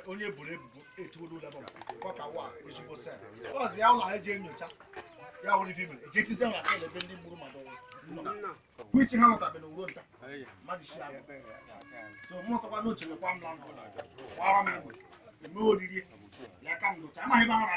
onye e boro ebubo etuola ụlọ ebe ọ ka wa ezigbo cell ọzọ ya ụlọ ha eji enyocha ya wụrụ ife mere e ji etizi na cell ebe ndị gburu mmadụ nwụrụ wichi ha nọtabere uwe nta mmadụ isi abụ so mụ ọtọkwa n'oche mekwa m na ndụ gbara m egbe eme oriri ya ka m docha amaghị m ara